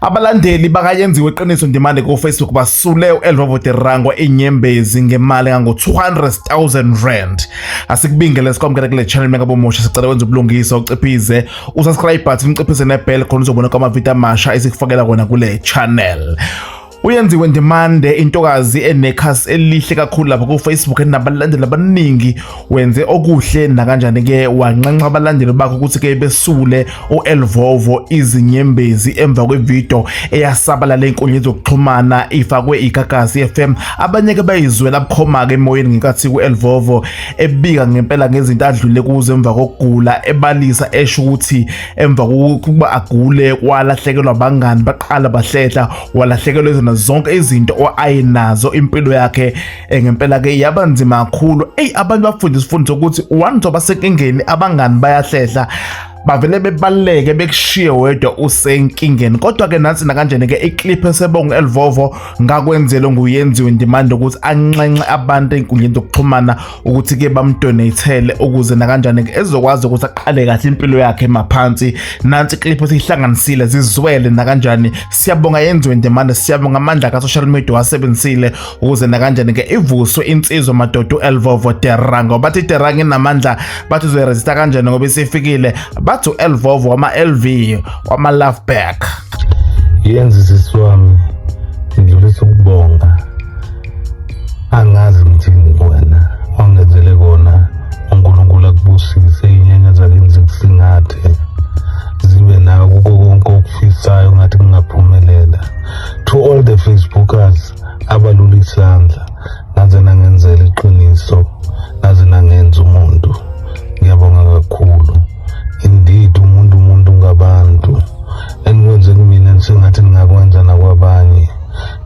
Abalandeli bakayenziwe iqiniso ndimande kofacebook basule u-elvavo de rango inyembezi ngemali engango-200,000 rand asikubingele sikwamukele kule channel mengabomusha sicela wenza ubulungisa uciphize usubscribe button uciphize nebell khona uzobona kwamavidiyo amasha esikufakela kona kule channel uyenziwe ndimande intokazi enekhasi elihle kakhulu lapha kufacebook enabalandeli abaningi wenze okuhle nakanjani ke wanxenxa abalandeli bakhe ukuthi ke besule uElvovo izinyembezi emva kwevideo eyasabalala enkundleni zokuxhumana ifakwe igagasi FM abanye ke bayizwela bukhoma ke emoyeni ngenkathi kuElvovo ebika ngempela ngezinto adlule kuzo emva kokugula ebalisa esho ukuthi emva kokuba agule kwalahlekelwa abangani baqala bahlehla walahlekelwa izona zonke izinto oayenazo impilo yakhe Eh, ngempela ke yaba nzima kakhulu eyi abantu bafunda isifundo sokuthi one zoba senkingeni abangani bayahlehla bavele bebaluleke bekushiye wedwa usenkingeni kodwa ke nansi nakanjena ke iclip esebongo elivovo ngakwenzele nguyenziwe ndimande ukuthi anxenxe abantu enkundleni zokuxhumana ukuthi ke bamdonatele ukuze nakanjani ke ezokwazi ukuthi aqale kahle impilo yakhe maphansi nansi iclip esihlanganisile zizwele nakanjani siyabonga yenziwe ndimande siyabonga amandla ka social media wasebenzisile ukuze nakanjani ke ivuswe insizwa madoda uelvovo terra ngoba bathi terra nginamandla bathi uzoyiresista kanjani ngoba isifikile bathi uelvovo wama-lv wama-love back yenza isisi wami ngidlulisa ukubonga angazi ngithini kuwena wangenzele kona unkulunkulu akubusise inyanya zakenzi kusingathe zibe nawe kuko konke okufisayo ngathi kungaphumelela to all the facebookers abalula isandla naze nangenzela iqiniso naze nangenza umuntu ngiyabonga kakhulu indeed umuntu umuntu ngabantu enikwenze kumina sengathi ningakwenza nakwabanye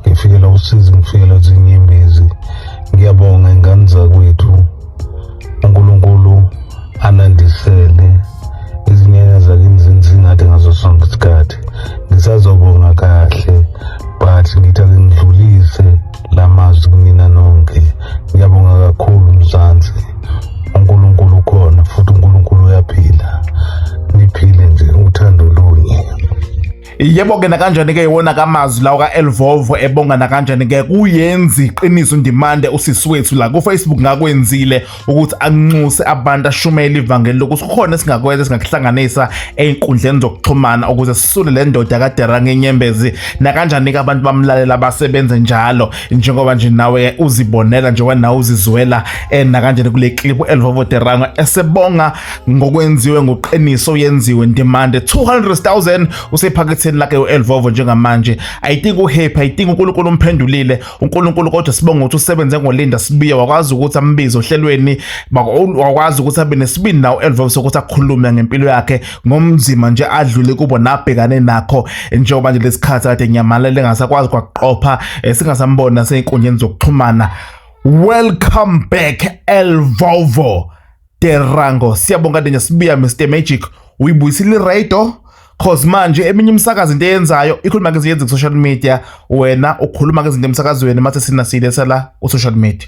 ngifikela usizi ngifikela zinyembezi ngiyabonga ingane zakwethu unkulunkulu anandisele izinyanya zakini zinzingathi ngaso sonke isikhathi ngisazobonga kahle but ngithi ake ngidlulise la mazwi kunina nonke ngiyabonga kakhulu mzansi unkulunkulu ukhona futhi unkulunkulu uyaphila niphile nje uthando lunye yebo ke nakanjani ke iwona kamazwi lawo ka-elvovo ebonga nakanjani ke kuyenzi iqiniso ndimande usisi wethu la kufacebook ngakwenzile ukuthi anxuse abantu ashumele ivangeli lokuthi kukhona esingakwenza esingakuhlanganisa ey'nkundleni zokuxhumana ukuze sisule le ndoda kadera ngenyembezi nakanjani ke abantu bamlalela basebenze njalo njengoba nje nawe uzibonela njengoba nawe uzizwela um nakanjani kule klipu elvovo derango esebonga ngokwenziwe ngoqiniso yenziwe ndimande 200,000 usephaketheni lakhe uElvovo njengamanje i think uhappy i think uNkulunkulu umphendulile uNkulunkulu kodwa sibonga ukuthi usebenze ngolinda sibiye wakwazi ukuthi ambize ohlelweni wakwazi ukuthi abe nesibindi nawo uElvovo sokuthi akhulume ngempilo yakhe ngomzima nje adlule kubo nabhekane nakho njengoba nje lesikhathi kade ngiyamalele ngasakwazi kwaqopha eh, singasambona senkundleni zokuxhumana welcome back Elvovo Derango siyabonga Denya sibuya Mr Magic uyibuyisile iraydo cause manje eminye imisakazi into eyenzayo ikhuluma ngezinto ezenza ku-social media wena ukhuluma ngezinto emsakazweni mase sina silesela ku-social media